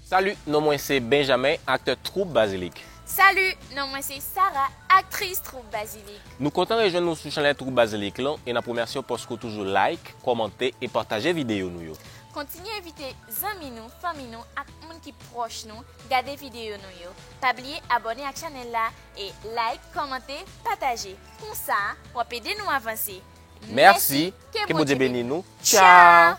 Salut, non mwen se Benjamin, aktè Troupe Basilic. Salut, non mwen se Sarah, aktris Troupe Basilic. Nou kontan rejwenn ou sou chanèl Troupe Basilic lan e n ap remèsye w paske w toujou like, kòmante e pataje videyo nou yo. Kontinye envite zanmi nou, fanmi nou ak moun ki pwòch nou gade videyo nou yo. Pa bliye abòne ak chanèl la e like, kòmante, pataje. Konsa, w ap ede nou avanse. Mèsi, ke Bondye beni nou. Tchao!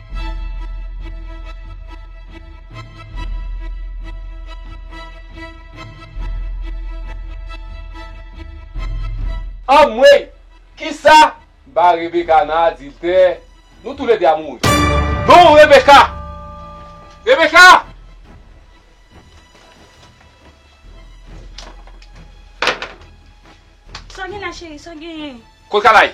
Anmweyy! Kisa? Ba Rebecca nan adiltè, nou tou le 2 a mouri. Non Rebecca! Rebecca! Sa gen la cheri, sa genyen? Kot Kanaï?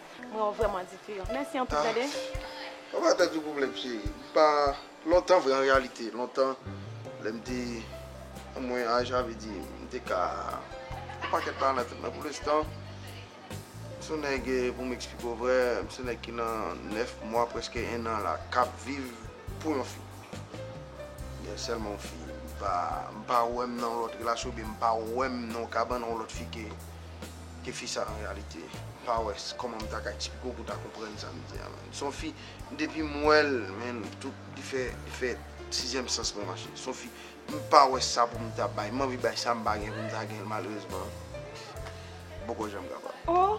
Mwen w vreman diferan. Mèsi anpil dade. Ah Ou pa pèdi yon pwoblèm cheri. M pa lontan vre an reyalite. Lontan lè m te nan mwen aj la vle di m te ka fè yon pakèt bagay nan tèt mwen. Pou lenstan m se yon nèg pou m eksplike w vre m se yon nèg ki nan 9 mwa prèske 1 an la k ap viv pou yon fi. Gen sèlman yon fi. M pa wè m nan yon lòt relasyon oubyen m pa wè m nan yon kabann yon lòt fi ke Ke fi sa an reyalite pa wè kòman m ta ka eksplike w pou w ta konprann sa m di a man. S on fi depi m wè l man tout li fè li fè sizyèm sans mwen mache. S on fi m pa wè sa pou m ta bay. M anvi bay sa m pa gen pou m ta gen l malerezman m poko janm kapab.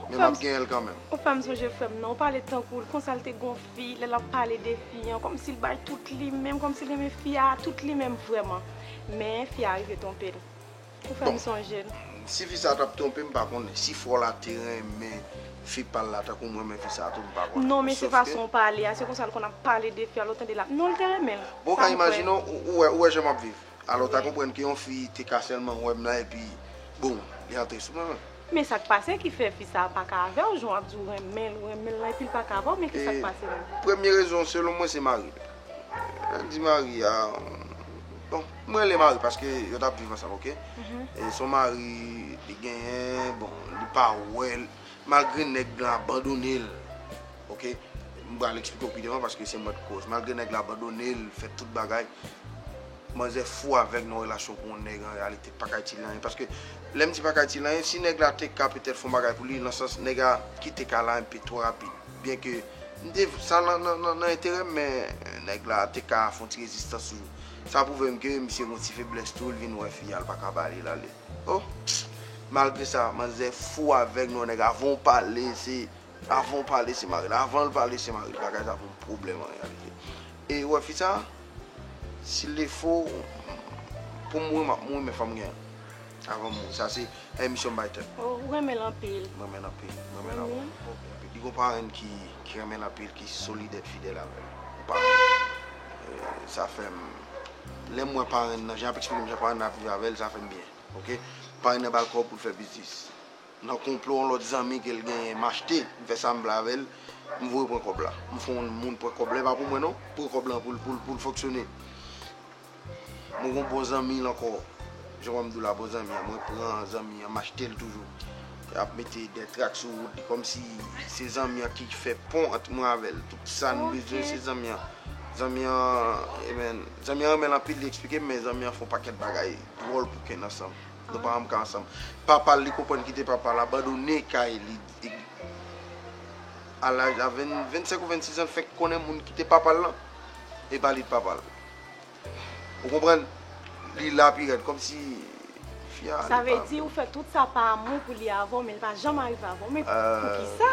Men m ap genyen l kanmenm. O fè m sonje frè m nan. Ou pale tankou l konsa l te gon fi lè l ap pale de fi an kòm si l bay tout li menm kòm si l renmen fi a a tout li menm vrèman. Men fi a rive twonpe l. Ou fè m sonje l. Si fi sa tap twonpe m pa konnen, si fò la te renmen fi pa l la tankou m renmen fi sa tou m pa konnen. Non men se fason w pale a, se konsa l konn ap pale de fi a lè w tande lap, non l te renmen l, sa m kwè. Bon ka imajine w, ou wè jan map viv, alò w ta konprann ke yon fi te ka sèlman wè m la epi boom li antre sou mwen menm. Men sak pase ki fè fi sa paka avèw jan wap di ou renmenl ou renmenl lan epil paka avèw men kisak pase menm. Premye rezon selon mwen se mari li. Lèl di mari a bon m rele mari paske yo tap viv ansanm ok son mari li genyen bon li pa wèl malgre nèg lan abandonel ok m pral eksplike w pi devan paske se mwen k koz malgre nèg la abandonel fè tout bagay. Manzè fou avèg nan relasyon pou yon nèg an reyalite pa ka itil li anyen paske lè m di pa ka itil li anyen si nèg la te ka petèt fè yon bagay pou li nan sans nèg a kite kay la enpe twò rapid byen ke m te sa nan enterè m men nèg la te ka fè yon ti rezistans toujou sa pwouve m ke misye gen yon ti feblès tou l vin wè fi a l pa ka ba li l ale o malgre sa manzè fou avèg nan yon nèg avan w pale se avan w pale se mari l avan l pale se mari l bagay sa pou m pwoblèm an reyalite. E ou wè fi sa? Sil te fo pou mouri map mouri men fòm gen avanm mouri sa se pèmisyon m bay tèt mwen. Ou renmen l anpil? M renmen l anpil, m renmen l anpil anpil. Li gon parenn ki renmen l anpil ki solid et fidèl avè l. Ou pa wè? Sa fè m lè m wè parenn nan jan l ap eksplike m jan parenn nan ap viv avè l sa fè m byen. Ok. Parenn nan ba l kòb pou l fè biznis. Nan konplo yon lòt zanmi kel genyen m achte m fè sam vle avèl m voye pran kòb la m fon moun pran kòb la epa pou mwen non pou kòb lan poul poul poul fonksyone mwen gon bon zanmi l ankò jan wèm dou la bon zanmi an mwen pran zanmi an m achtel toujou yap mete dè trak sou wout li kòmsi se zanmi an ki fè pon ant mwen avèl tout sam bezwen se zanmi an zanmi an emen zanmi an renmenl anpil li eksplike m men zanmi an fon pakèt bagay dwòl pou ken nan sanm. Nou pa janm ka ansanm. Papal li konprann kite papal abandone kay li a laj a 25 ou 26 ans fenk konnen moun kite papal lan e pa li t papal. Ou konprann? Li la pi rèd kòm si fi a li pa. Sa vle di ou fè tout sa pa amou pou li avèw men li pa janm arive avèw men poukisa?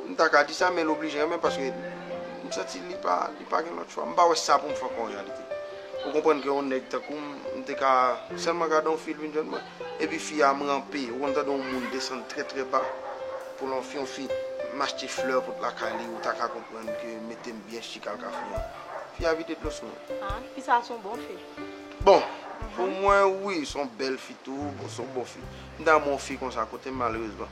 M ta ka di sa men l oblije renmen paske m santi li pa li pa gen lòt chwa. M pa wè sa pou m fè ankò an reyalite. Ou konprann ke yon nèg tankou m, m te ka sèlman gade yon fi l vin jwenn mwen. Epi fi a m ranpe, ou konn tande yon moun desann trè trè ba pou l anfin yon fi. M achte flè pou l lakay li, ou ta ka konprann ke mete m byen chik al Kafou an. Fi a vide dlo sou mwen. A, fi sa a s on bon fi. Bon! Pou mwen wi, s on bèl fi tou, s on bon fi. M ta renmen yon fi konsa kote m malerezman.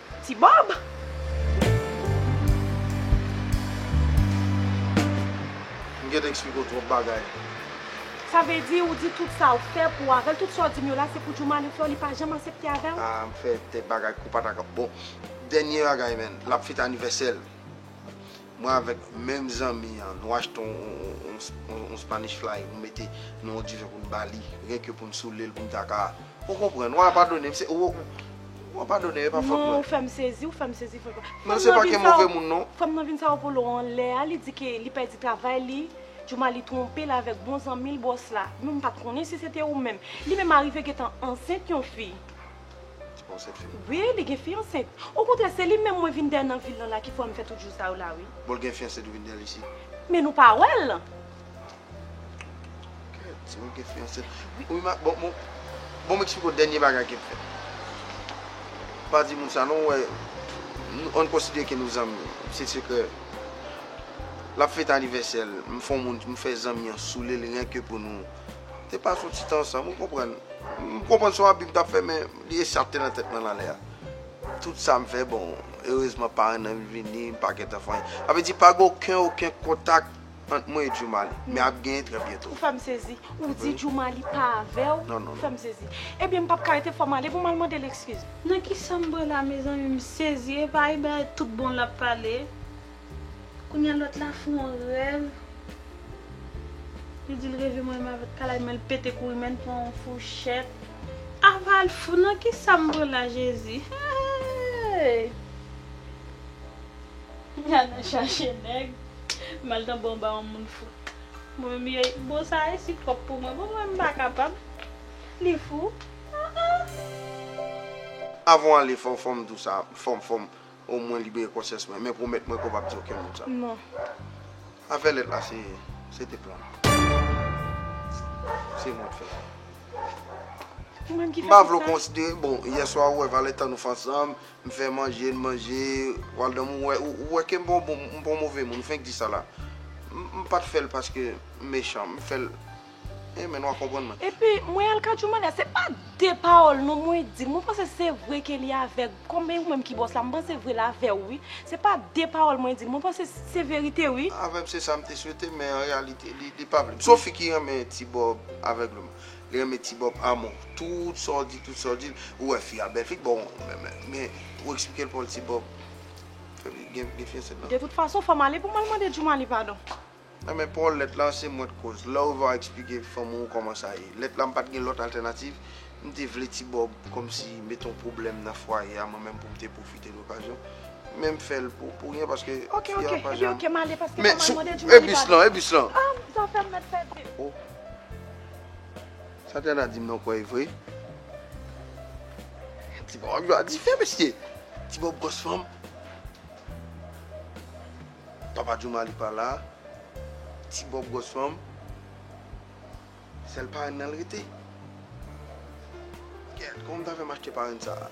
Ti Bob! M gen te eksplike w twòp bagay. Sa vle di ou di tout sa ou fè pou avèl tout sa ou dim yo la se pou Djoumane fè w li pa janm asepte avèw? Ah m fè de bagay kou patakòt bon dènye bagay man lap fete anivèsèl Mwen avèk menm zanmi an nou achte yon Spanish fly nou mete nan yon diven pou nou ba li ren ke pou nou soule l pou nou ta ka ou konprann wa padone m se ou wa padone m e pa fòt mwen. Non ou fèm sezi ou fèm sezi frè pam. Mwen se pa ke move moun non. Fanm nan vin Saopolo anlè a li di ke li pèdi travay li Djumali twonpe l avèk bon zanmi l bòs la. Mwen m pat konnen si se te ou menm. Li menm arive gentan ansent yon fi. Li pa ansent fini. Wi, li gen fi ansent. Okontrè, se li menm mwen vin dèyè nan vil lan la ki fè m fè tout jou sa yo la wi. Bon l gen fi ansent ou vin dèyè l isit? Men nou pa wè l? Kèt, se ou ki gen fi ansent. Wi ma, bon, bon, bon m eksplike w dènye bagay ke m fè. Pa di moun sa non, ou wè, nou, an n konsidere ke nou zanmi. Se sekrè. L ap fete anivèsè l, m fè yon moun, m fè zanmi an soule l renke pou nou. Te pase yon ti tan ansanm, ou konprann. M konprann se yon abi m t ap fè men li echate nan tèt mwen nan lè a. Tout sa m fè bon, erezman paran nan m vini, m pa gen tan fè anyen. Sa vle di pa gen oken oken kontak ant mwen e Djoumali. Men ap genyen trè byento. Ou fè m sezi. Ou di Djoumali pa avè w? Non, non, non. Ou fè m sezi. Ebyen m p ap ka rete fò m ale pou m al mande l ekskiz. Nan ki sa m bwè la mezanmi m sezi epa Iben tout bon l ap pale. Kounya lòt la fè yon rèv li dil reve mwen menm avèk kalay menl pete kouri menl pran yon fouchèt. Aval fou nan kisam vre la jezi heeyy. Mya nan chache nèg mal tanpri yon baron moun fou mwen menm yey bon sa resi twòp pou mwen bon mwen menm mpa kapab li fou aah. Avan w ale fòw fòm di w sa fòm fòm O mwen libere konsyans mwen. Men pwomèt mwen ke w pap di okenn moun sa. Non. Afè lèt la se, se te plan. Se mwen k fè sa. Ou menm ki fè tout sa? M pa vle w konsidere, bon, yè swa ou wè valè tan nou fè ansanm, m fè manje, n manje, w al dòmi, ou wè ke m pa yon move moun, ou fenk di sa la. M pat fè l paske m mechan, m fè l. Amen wa konprann mwen. Epi mwen al ka Joumane se pa de pawòl non mwen di mwen panse se vre ke li avèg kòm e ou menm ki bòs la mwen panse vre lavèw wi se pa de pawòl mwen di mwen panse se verite wi. Avèm se sam te swete men an reyalite li pa vlem son fi ki renmen ti bòb avègleman li renmen ti bòb amò tout sa w di tout sa w di ou wè fi a bèl fi bon men ou eksplikel pawòl ti bòb fè li gen fiyanse nan. De tout fason fòm ale pou mal mande Joumane padon. Nan men paw lèt lan se mwen t koz lèw va explike fanm ou kòman sa ye lèt la m pat gen lòt altènativ m te vle ti bòb kòmsi met on pwoblèm nan fwaye a mwen menm poum te pwofite de okazyon men m fèl pou ryen paske fi a pa janm men sou e bis lan e bis lan oh sa tèna dim nan w kwè e vre ti bòb ap jwe a dife mesye ti bòb gòs fanm. Papa jooma li pa la. Ti bob gwòs fanm. Sèl parenn nan l rete. Gad kòman m ta fè m achte parenn sa a.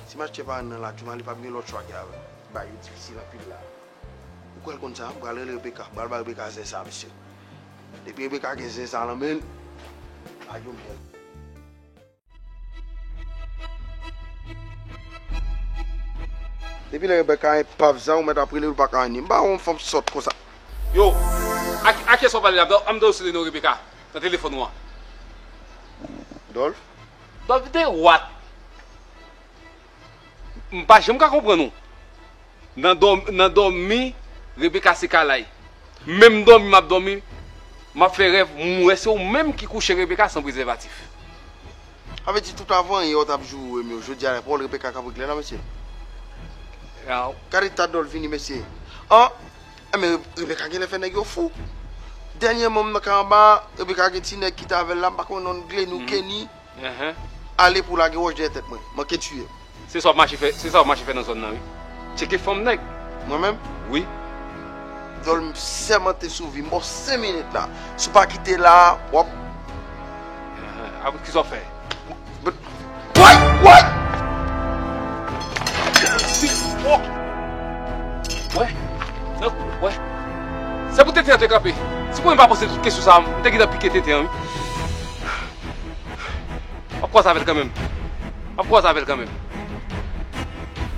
Si m achte parenn nan la jooma li pap gen lòt chwa ke al bay yo difisil anpil la. Ou kwè l konn sa? M pral rele Rebecca. M pral bay Rebecca zen sa a mesye. Depi Rebecca gen zen sa a nan men l. Ayo men. Depi lè Rebecca en pav zan ou mèt ap relel ou paka anyn m pa wè yon fanm sòt konsa. Yo, ak a kiyès wap pale la Dolph, anm Dolce li non Rebecca nan telefòn ou an. Dolph? Dolph de what? Mpa janm ka konprann ou. Nan dò nan dòmi Rebecca se kalay. Menm dòmi map dòmi map fè rèv m wè se ou menm ki kouche Rebecca san prezèvatif. Sa vle di tout avanyè yo tap joure m yo jodi a nan pawòl Rebecca kap regle la mesye. Gade ta dòl vini mesye. An Enben Rebecca genlè fè nèg yo fou. Dènyèman m nan ka anba a Rebecca gen ti nèg ki t avèl la m pa konnen nonl Glenny ou Kenny. Ale pou w lage wòch dèyè tèt mwen. Manke tiye m. Se sa w ap mache fè nan zòn nan wi. Tcheke fanm nèg. Mwen menm? Wi. Dyòl m sèmante sou vi m ba w 5 minit la. Si w pa kite la a, w ap. Apre kisa w ap fè? Woy! Woy! Wè! Nan kou l, wè! Se pou tenten an te kanpe. Si mwen pa poze tout kesyon sa a, m te gentan pike tenten an wi. Wap kòz avèl kanmenm. Wap kòz avèl kanmenm.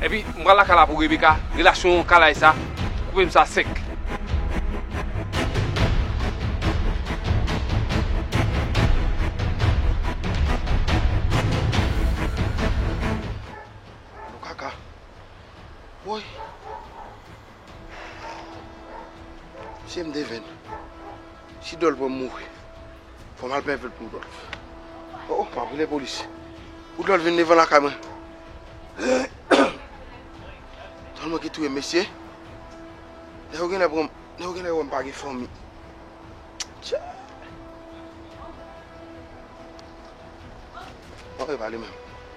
Epi m pral lakay la pou Rebecca, relasyon kalay sa, koupe m sa sèk. Alo kaka. Woy. Si m defen, si Dòl pran m mouri, fò m al plen vèt pou Dòl. O, m ap rele polis. Pou Dòl vin devan lakay mwen. Dòl manke touye m mesye. Nèg yo genlè pran m, nèg yo genlè wè m pa gen fanmi. Chai! Bon, e pa li menm.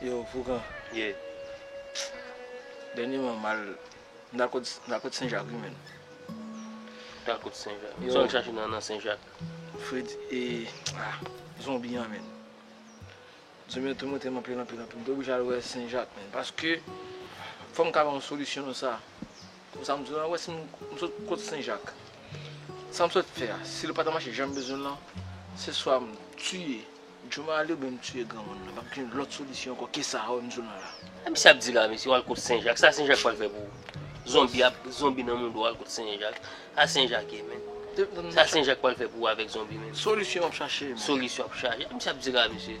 Yo fougan Ye Dènye man mal M ta kot m ta kot senjak wi menn Ou ta kot senjak Yo Sa w al chache nan nan senjak Fred e ah zonbi an menn Zonbi an toumante m anpil anpil anpil M te oblije al wè senjak menn paske Fò m ka ba w solisyon nan sa Bon sa m bezwen an wè si m sot kot senjak sa m sot fè a si l pa ta mache jan m bezwen l lan se swa m tiye jomaly oubyen m tiye granmoun nan pa p gen lòt solisyon ankò ke sa a wè m sou nan la. Sa misye ap di la mesye wal kot senjak sa senjak pral fè pou ou zonbi ap zonbi nan moun do wal kot senjak sa senjak ye menm sa senjak pral fè pou ou avèk zonbi menm solisyon wap chache menm solisyon wap chache sa misye ap di la mesye.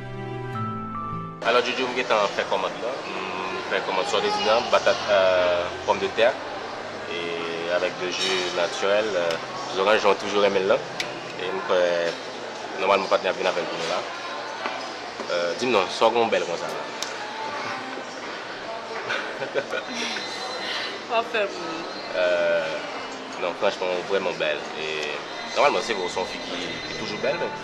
Alò Jojo m gentan fè kòmand lan, m fè kòmand sòdedin an, batat, pòmdetè e avèk 2 ju natirèl, zoranj jan w toujou renmen l lan e m kwè nòmalman patnè ap vin avè l pou nou la. Di m non, sa w gen w bèl konsa la? Sa w fè pou m? Non franchman w vrèman bèl e nòmalman se vre w se yon fi ki toujou bèl men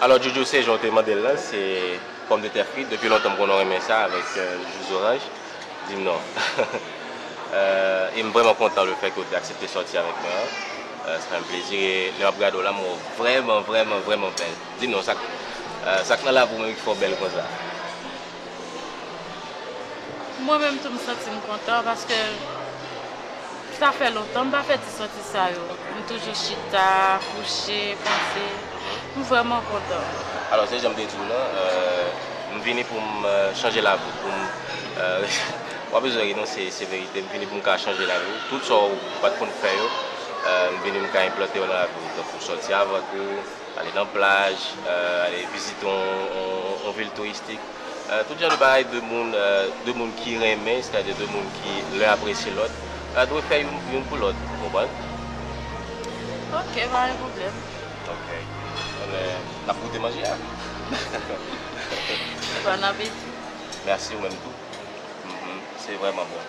Alò Jojo se jan w te mande l lan se pòmdetè frit depi lontan m konnen w renmen sa avèk jus zoranj di m non e m vrèman kontan le fè ke w te aksepte sòti avèk mwen an sa fè m plezi e lè m ap gade w la m wè w vrèman vrèman vrèman bèl di m non sa k nan lavi w menm ki fè w bèl konsa. Mwen menm tou m santi m kontan paske sa fè lontan m pa fè ti sòti sa yo. M toujou chita, kouche, panse. M vrèman kontan. Alò se jan m te di w lan, m vini pou m chanje lavi w, pou m w pa bezwen ri non se verite, m vini pou m ka chanje lavi w. Tout sa w pa t konn fè yo, m vini m ka enplante yo nan lavi w. Tankou sòti avèk ou. Ale nan plaj, ale vizite yon vil touristik. Tout jan de bagay 2 moun, 2 moun ki renmen, sètadi 2 moun ki l'un apresye lòt, dwe fè youn pou lòt. Ou konprann? Ok, pa gen pwoblèm. Ok. Enben, n'ap goute manje a? Bon apeti. Mèsi, ou menm tou. Se vrèman bon.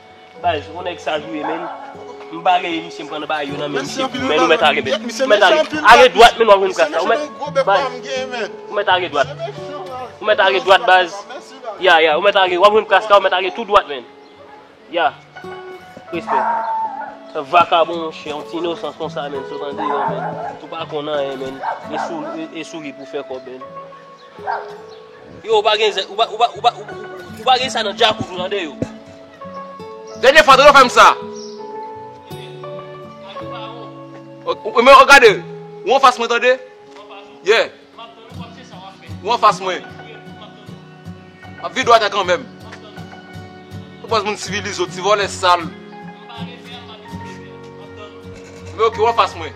Baz ou nèg saj ou ye menn m pa rele misye m pran nan bay yo nan men misye tou menn ou mèt a rebèt ou mèt a rebèt ale dwat menn wap jwenn kras la ou mèt baz ou mèt ale dwat ou mèt ale dwat baz ya ya ou mèt ale wap jwenn kras la ou mèt ale tou dwat menn ya respè vakabon monchè yon ti inosans konsa menn sot andeyò menn ou pa konn anyen menn e souri pou fè kòb menn. Yo ou pa gen zen, ou pa, ou pa, ou pa, ou pa gen sa nan djakout ou tande yo. Dènye fwa Dodo fèm sa. Ou men ou gade, ou an fas mwen tande. Yeah. Ou an fas mwen. Map vide wata kan menm. Ou pwaz moun sivilize ou ti vole sal. Ou men ok ou an fas mwen.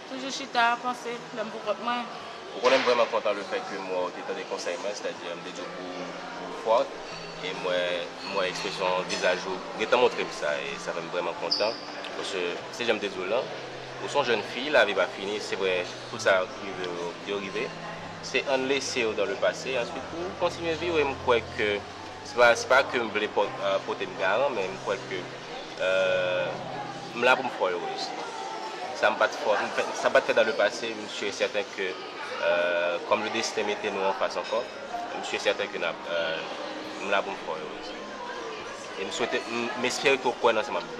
Toujou chita a panse lè m pou kont mwen. Ou konnen m vrèman kontan le fèt ke m wè w te tande konsèy mwen, sètadi m te di w pou ou fort e m wè m wè ekspresyon vizaj ou gentan montre m sa e sa fè m vrèman kontan paske se jan m te di w lan ou son jèn fi lavi pa fini se vrè tout sa ki rive w yo rive se ann lese yo dan le pase answit pou kontinye viv e m kwè ke Se pa se pa kem vle potem garan men m kwè ke m la pou m fè w erez. Sa m pat fè sa m pat fè dan le pase m si e sèten ke kòm le desten mete nou an fas ankò m si e sèten ke nap m la pou m fè w erez. E m swete m espere ke w kwè nan sa map di.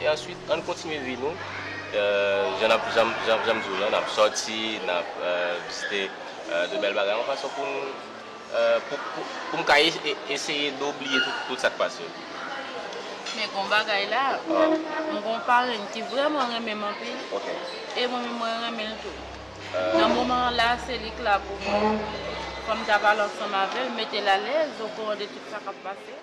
E answit ann kontinye vi nou, jan m di w lan, n ap sòti, n ap vizite de bèl bagay, yon fason pou nou, pou m ka eseye de bliye tout sa k pase yo. Men gen yon bagay la, m gen yon parenn ki vrèman renmen m anpil, e mwen menm mwen renmen l tou. Nan moman an la, se li k la pou mwen, fò m ta pale ansanm avè l, mete l alèz, okouran de tout sa k ap pase.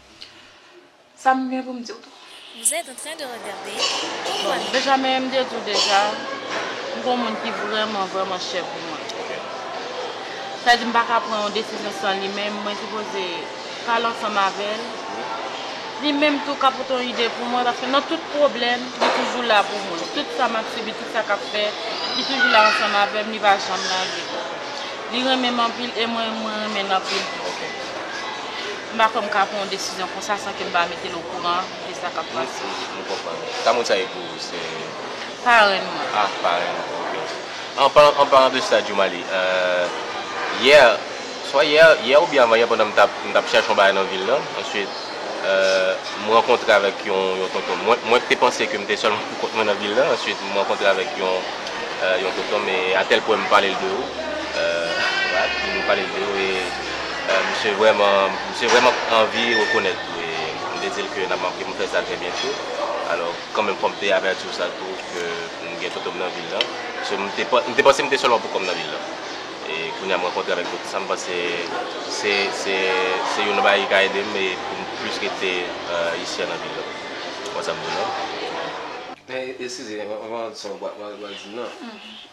Sa m gen pou m di w tou. Vous êtes en train de regarder Bon, Benjamin, m te di w deja, m gen yon moun ki vrèman, vrèman chè pou mwen. Sa vle di m pa ka pran yon desizyon san li menm, mwen sipoze pale ansanm avè l. Li menm tou ka pote yon ide pou mwen paske nan tout pwoblèm, li toujou la pou mwen. Tout sa m ap sibi, tout sa k ap fè, li toujou la ansanm avè m, li pa janm lage m. Li renmen m anpil e mwen, mwen renmen l anpil tou. M pa kwè m ka pran yon desizyon konsa san ke m pa mete l okouran de sa k ap pase. M konprann. Tamoun sa e pou ou? Se. Parenn mwen. A, parenn ou, ok. An palan, an palan de sa, Djoumaly, yè, swa yè, yè oubyen avan yè pandan m t ap, m t ap chèche yon bagay nan vil lan, answit, m rankontre avèk yon, yon tonton. Mwen, mwen te panse ke m te sèlman pou kont mwen nan vil lan, answit m rankontre avèk yon, yon tonton m e atèl pwen m pale l de ou, right, m pale l de ou e Misye vrèman misye vrèman p anvi rekonèt tou e m te di l ke n ap manke m fè sa trè byento alò kanmenm fò m te avèti w sa tou ke m gen toto m nan vil lan so m te m te panse m te sèlman poukò m nan vil lan e kounye a m rankontre avèk tout sa m panse se se se youn nan bagay ki ka ede m e pou m plis rete isi a nan vil lan konsa m di w non. Men eskize m anvan w di sa w pral di m nan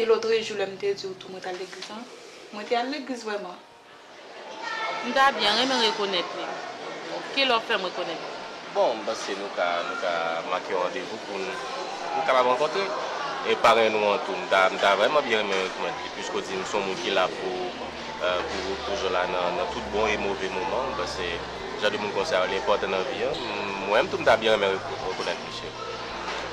E lotrejou lè m te di w tou mwen t al legliz lan, mwen te al legliz vrèman. M ta byen renmen rekonèt li. Ki lè w fè m rekonèt li? Bon, m panse nou ka nou ka make yon randevou pou n pou n kapab rankontre. E parenn ou an tou, m ta m ta vrèman byen renmen rekonèt li piske w di m s on moun ki la pou pou ou toujou la nan nan tout bon e move moman. M panse jan de moun konsa yo li enpòtan nan vi an. M mwen menm tou m ta byen renmen rekonèt misye.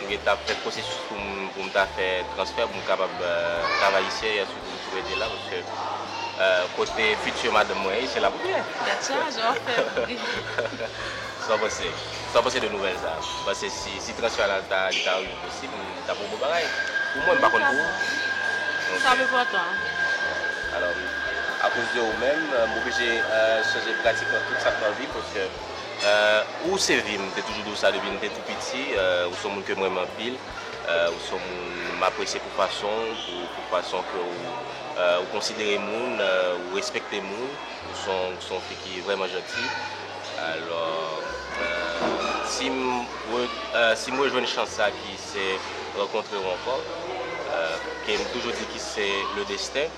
M gen tan ap fè pwosesis pou m pou m ta fè transfè pou m kapab travay isi a yes pou m tou rete la paske kote future madanm mwen ye se lap rete. That's why as well fè bri. Sa w panse? Sa w panse de nouvèl sa? Ou panse si transfè a ta li ta rive posib li ta pou bon bagay? Pou mwen m pa konn pou ou. Sa ap enpòtan. Alò akoz de ou menm m oblije chanje pratikman tout sa k nan vi paske Ahh ou se vi m te toujou di w sa depi m te tou piti ou son moun ke m renmen anpil ou son moun m apresye pou fason w pou fason ke ou konsidere moun ou respekte moun ou son fi ki vrèman janti alò si m si m rejwenn chans sa ki se rankontre w ankò ke m toujou di ki se le desten.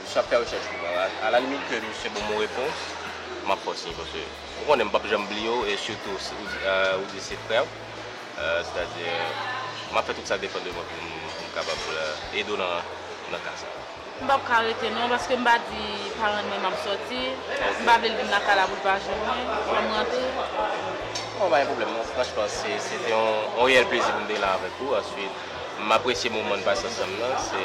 Misye ap fè rechèch pou mwen. A la limit ke misye ban mwen repons, m ap kontinye paske ou konnen m p ap janm bliye w e sitou si ou di se frè w. Sètadi m ap fè tout sa k depann de mwen pou m kapab ede w nan ka sa. M p ap ka rete non paske m pa di paran mwen m ap sòti. M pa vle l vin nan kay la pou l pa jwenn mwen. Fò m rantre. Bon, pa gen pwoblèm non. Franchman, se te yon reyèl plezi pou m te la avèk ou. Ansuit, m apresye moman n pase ansanm nan. Se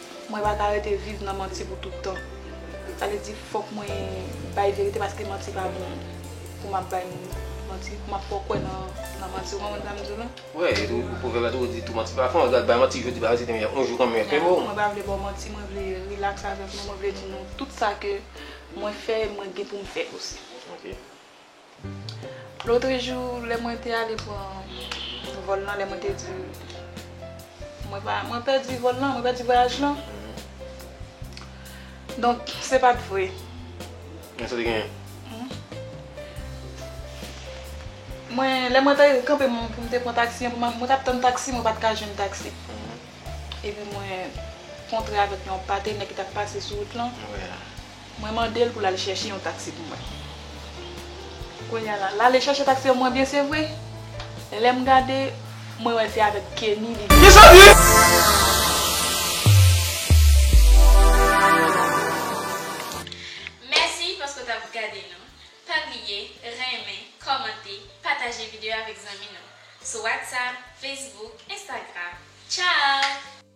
Mwen pa ka rete viv nan manti pou tout tan. Sa vle di fòk mwen bay verite paske manti pa bon pou m ap bay moun manti, pou m ap fè w kwè nan manti. Ou konprann sa m di w la? Wi, e tou pwovèb la tou di tou manti pa fon. Regarde, bay manti jodi, bay manti demen, yon jou konbyen fè mou. Mwen pa vle ba w manti, mwen vle relax avèk nou, mwen vle di nou tout sa ke mwen fè e mwen gen pou m fè osi. Ok. Lotrejou lè mwen te ale pran vòl lan, lè mwen te di mwen pa, mwen pèdi vòl lan, mwen pèdi vwayaj lan. Donk se pa t vre. Men sa te genyen? Mwen, lè mwen te kanpe pou m te pran taksi an, mwen t ap tann taksi, mwen pa t ka jwenn taksi. Epi mwen kontre avèk yon patenè ki t ap pase sou wout lan. Mwen mande l pou l al chèche yon taksi pou mwen. Kounye a la, l ale chèche taksi pou mwen byen se vre. Lè m gade, mwen wè se avèk Kenny li vini. Mèsi paske w tap gade nou. Pa bliye renmen, kòmante, pataje videyo avèk zanmi nou sou WhatsApp, Facebook, Instagram. Tchao!